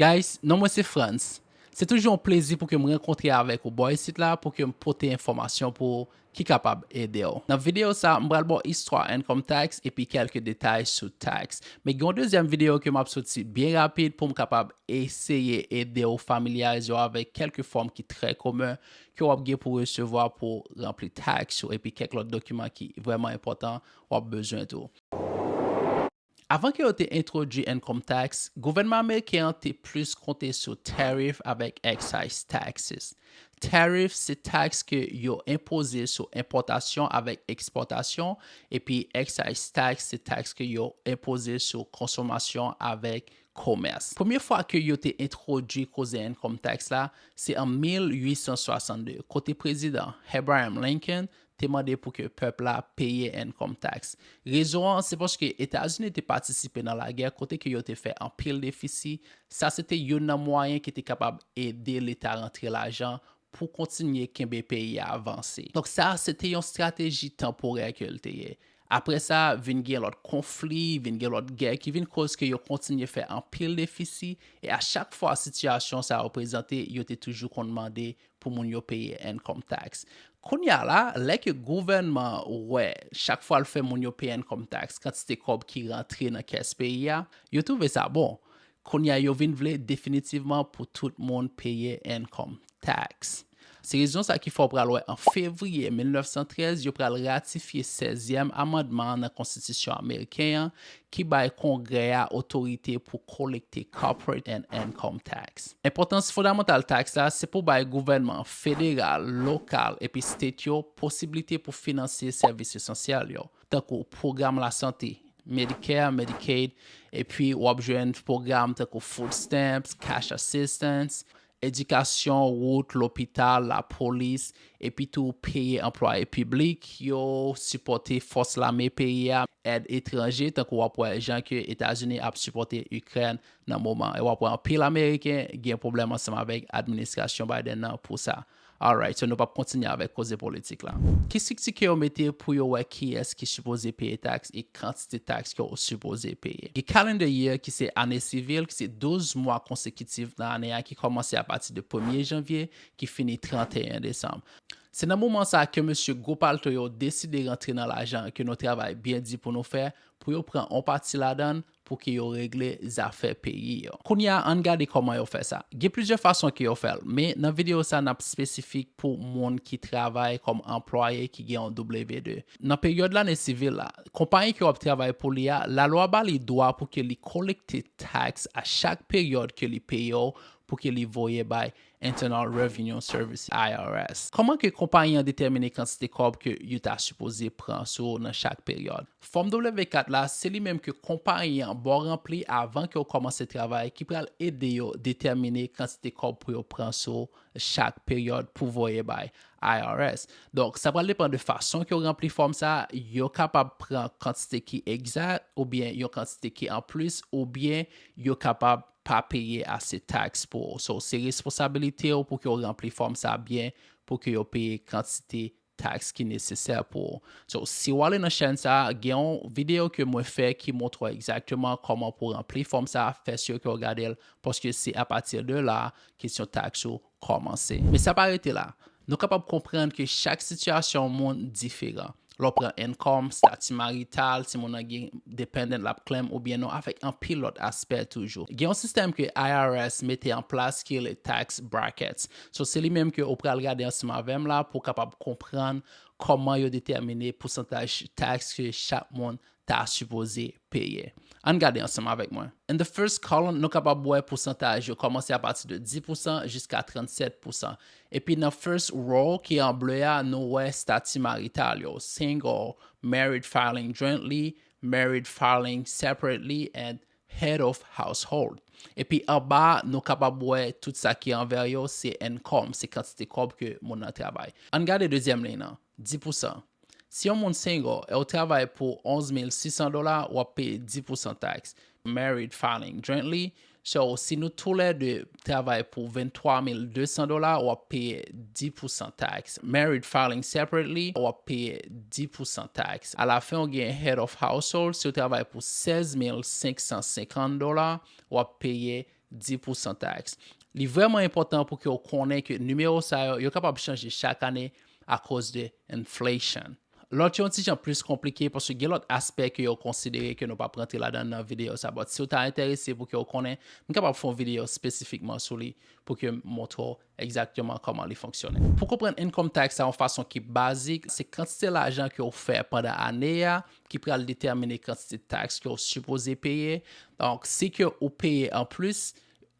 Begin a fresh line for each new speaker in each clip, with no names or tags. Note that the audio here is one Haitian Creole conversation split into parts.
Guys non mwen se Frantz se toujou yon plezi pou ke m rankontre avèk ou bò isit la pou ke m pote enfòmasyon pou ou ki kapab ede w. Nan videyo sa m pral ba w istwa income tax epi kèlke detay sou tax. Men gen yon dezyèm videyo ke m ap soti byen rapid pou m kapab eseye ede w familyarize w avèk kèlke fòm ki trè komen ke w ap gen pou resevwa pou w ranpli tax ou epi kèk lòt dokiman ki vrèman enpòtan w ap bezwen tou. Avan ke yo te entwodui income tax, gouvènman ameriken an te plis konte sou tariff avèk excise taxes. Tariff se taks ke yo enpoze sou enpòtasyon avèk ekspòtasyon, epi excise tax se taks ke yo enpoze sou konsomasyon avèk komès. Premye fwa ke yo te entwodui koze income tax la, se an 1862, kote Prezidan Abraham Lincoln te mande pou ke pèp la peye income tax. Rezon an se paske Etazini te patisipe nan lagè kote ke yo te fè anpil defisi, sa se te youn nan mwayen ki te kapab ede leta rantre lajan pou kontinye kenbe peyi a vanse. Donk sa se te yon strateji tanporè ke l te ye. Apre sa, vin gen lòt konfli, vin gen lòt gè ki vin koz ke yo kontinye fè anpil defisi e a chak fwa sitiyasyon sa yo prezante yo te toujou konn mande pou moun yo peye income tax. Kounye a la, lè ke gouvènman wè chak fwa l fè moun yo peye income tax kantite kòb ki rantre nan kès peyi a, yo twouve sa bon. Kounye a yo vin vle definitivman pou tout moun peye income tax. Se rezon sa ki fè w pral wè an fevriye 1913 yo pral ratifye sèzyèm amandman nan konstitisyon ameriken an ki bay Kongrè a otorite pou kolekte Corporate and Income Tax. Enpòtans fondamantal taks la se pou bay gouvènman federal, lokal epi state yo posiblite pou finanse sèvis esansyèl yo, tankou pwogram lasante, Medicare, Medicaid, epi w ap jwenn pwogram tankou food stamps, cash assistance, edikasyon, wout, lopital, lapolis, epitou peye anplwaye piblik yo, sipòte fòs lame peyi a, èd etranje, tankou w ap wè jan ke Etazini ap sipòte Ikrèn nan moman, e w ap wè anpil Ameriken gen pwoblèm ansanm avèk administrasyon Biden nan pou sa. Alright so nou pap kontinye avèk koze politik la. Ki strikti ke yo mete pou yo wè kiyès ki sipoze peye taks e kantite taks ke ou sipoze peye? Gen calendar year ki se ane sivil ki se 12 mwa konsekitif nan ane a ki kòmanse a pati de premye janvye ki fini 31 desanm. Se nan moman sa a ke mesye gwo palto yo deside rantre nan lajan ke nou travay byen di pou nou fè pou yo pran on pati ladan l pou ke yo regle zafè peyi yo. Kounye a ann gade kòman yo fè sa. Gen plizyè fason ke yo fè l, men nan videyo sa n ap espesifik pou moun ki travay kòm anplwaye ki gen yon W-2. Nan peryòd lane sivil la, konpayi ke w ap travay pou li a, lalwa ba li dwa pou ke li kolekte taks a chak peryòd ke li peye w pou ke li voye bay Internal Revenue Service, IRS. Kòman ke konpayi an detèmine kantite kòb ke yo ta sipoze pran sou ou nan chak peryòd? Fòm W-4 la, se li menm ke konpayi an ba w ranpli avan ke w kòmanse travay ki pral ede yo detèmine kantite kòb pou yo pran sou ou chak peryòd pou voye bay IRS. Donk, sa pral depan de fason ke w ranpli fòm sa a, yo kapab pran kantite ki egzat oubyen yon kantite ki anplis oubyen yo kapab. pa peye ase taks pou ou. So, se responsabilite ou pou ke ou ranpli fòm sa byen pou ke yo peye kantite taks ki nesesè pou ou. So, si ou ale nan chèn sa, gen yon videyo ke mwen fè ki montre ou egzakteman kòman pou ranpli fòm sa, fè si ou ke ou gade l, paske se apati de la, kesyon taks ou kòmanse. Men sa pa rete la. Nou kapab konprann ke chak sitiyasyon moun diferan. Lè w pran income, stati marital, si moun nan gen dependent l ap claim oubyen non avèk anpil lòt aspè toujou. Gen yon sistèm ke IRS mete an plas ki rele tax brackets. So se li menm ke ou pral gade ansanm avè m la pou w kapab konprann kòman yo detèmine pousantaj tax ke chak moun ta sipoze peye. Ann gade ansanm avèk mwen. In the first column, nou kapab wè pousantaj yo kòmanse apati de 10 pousan jiska 37 pousan. Epi nan first row ki an ble a, nou wè stati marital yo, single, married filing jointly, married filing separately and head of household. Epi anba a, nou kapab wè tout sa ki anvè yo se income, se kantite kòb ke moun nan travay. Ann gade dezyèm liy nan. 10 pousan. Si yon moun single e w travay pou 11600 dola w ap peye 10 pousan tax. Married filing jointly, so si nou tou lè 2 travay pou 23200 dola w ap peye 10 pousan tax. Married filing separately, w ap peye 10 pousan tax. A la fen w gen head of household, si w travay pou 16550 dola w ap peye di pou san taks. Li vreman enpotan pou ke ou konnen ke nimewo sa yo, yo kapab chanje chak ane a koz de inflation. Lot yo yon ti jan plis konplike paske gen lot aspè ke yo konsidere ke nou pap rantre ladan nan video sa but si ou ta enterese pou ke ou konnen, m kapab fè yon video spesifikman sou li pou ke m montre ou. Egzakteman kòman li fonksyone. Pou konprann income tax la yon fason ki bazik, se kantite lajan ke ou fè pandan ane a ki pral detèmine kantite tax ke ou sipoze peye. Donk, si ke ou peye an plis,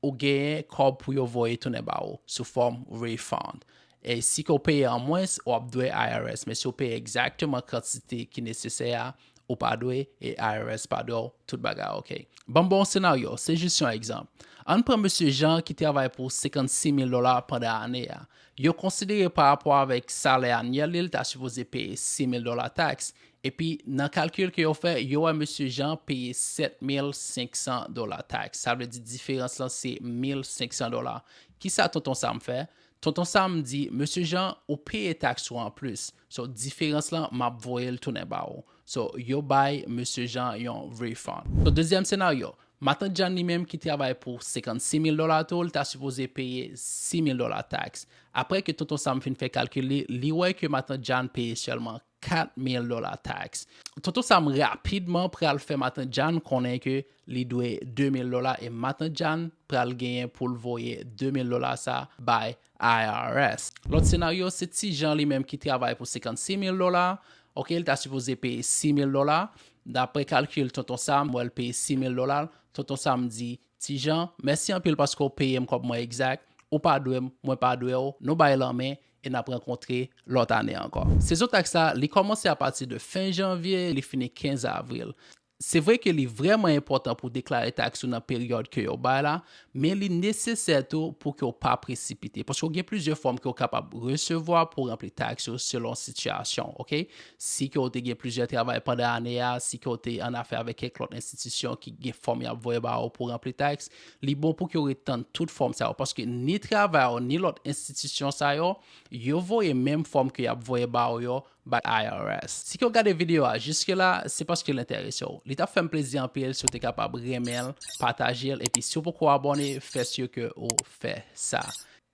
ou genyen kòb pou yo voye tounen ba ou sou fòm refund. E si ke ou peye an mwens, ou ap dwe IRS. Men si ou peye egzakteman kantite ki nesesè a, ou pa dwe e IRS pa dwe w tout bagay ok. Banm ba w yon senaryo, se jis yon egzanp. Ann pran mesye Jean ki travay pou 56 mil dola pandan ane a. Yo konsidere pa rapò avèk salè anyèl li l ta sipoze peye 6 mil dola taks, epi nan kalkil ke yo fè, yo wè mesye Jean peye 7 mil 500 dola taks. Sa vle di diferans lan se mil 500 dola. Kisa Tonton Sam fè? Tonton Sam di, Mesye Jean, ou peye taks ou anplis. So diferans la map voyel tounen ba ou. So yo bay Mesye Jean yon refund. So dezyèm senaryo, Matant Jeanne li menm ki travay pou 56 mil dola tou li ta sipoze peye 6 mil dola tax. Aprè ke Tonton Sam fin fè kalkil li, li wè ke Matant Jeanne peye sèlman 4 mil dola tax. Tonton Sam rapidman pral fè Matant Jeanne konnen ke li dwe 2 mil dola e Matant Jeanne pral genyen poul voye 2 mil dola sa bay IRS. Lòt senaryo se ti Jan li menm ki travay pou 56 mil dola ok li ta sipoze peye 6 mil dola daprè kalkil tonton Sam m wè l peye 6 mil dola l tonton Sam di ti Jan mèsi anpil paske w peye m kòb mwen egzak ou pa dwe m mwen pa dwe w nou bay lanmen e n ap rankontre lòt ane ankò. Sezon taks la li kòmanse apati de fen janvye li fini 15 avril Se vre ke li vrèman enpòtan pou deklare taks ou nan peryòd ke yo bay la, men li nesesè tou pou ke w pa presipite, paske ou gen plizyè fòm ke w kapab resevwa pou ranpli taks ou selon sitiyasyon w, ok. Si ke w te gen plizyè travay pandan ane a, si ke w te an afè avèk kèk lòt enstitisyon ki gen fòm y ap voye ba ou pou ranpli taks, li bon pou ke w ret tann tout fòm sa yo, paske ni travay ou ni lòt enstitisyon sa yo, yo voye menm fòm ke y ap voye ba ou yo, Bat IRS. Si ke w gade video a jiske la, se paske l enterese w. Li tap fè m plezi anpil si w te kapab renmen l, pataje l, epi si w poko abòne, fè sur ke ou fè sa.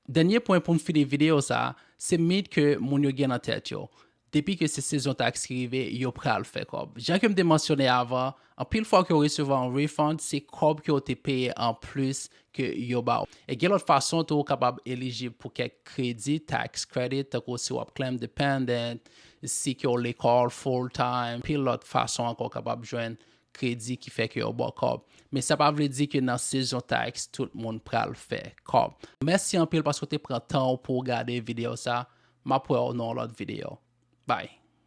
Dènye pwen pou m fini video sa, se mit ke moun yo gen nan tèt yo. Depi ke se sezon tax ki rive, yo pral fè kòb. Jan ke m te mansyone avan, Anpil fwa ke w resevwa yon refund, se kòb ke w te peye an plis ke yo ba w. E gen lòt fason tou ou kapab elijib pou kèk kredi, tax credit, tankou si w ap claim dependent, si ke w lekòl full time, anpil lòt fason ankò w kapab jwenn kredi ki fè ke yo ba w kòb. Men sa pa vle di ke nan sezon tax tout moun pral fè kòb. Mèsi anpil paske w te pran tan w pou w gade videyo sa. M ap wè w nan yon lòt videyo. Bye!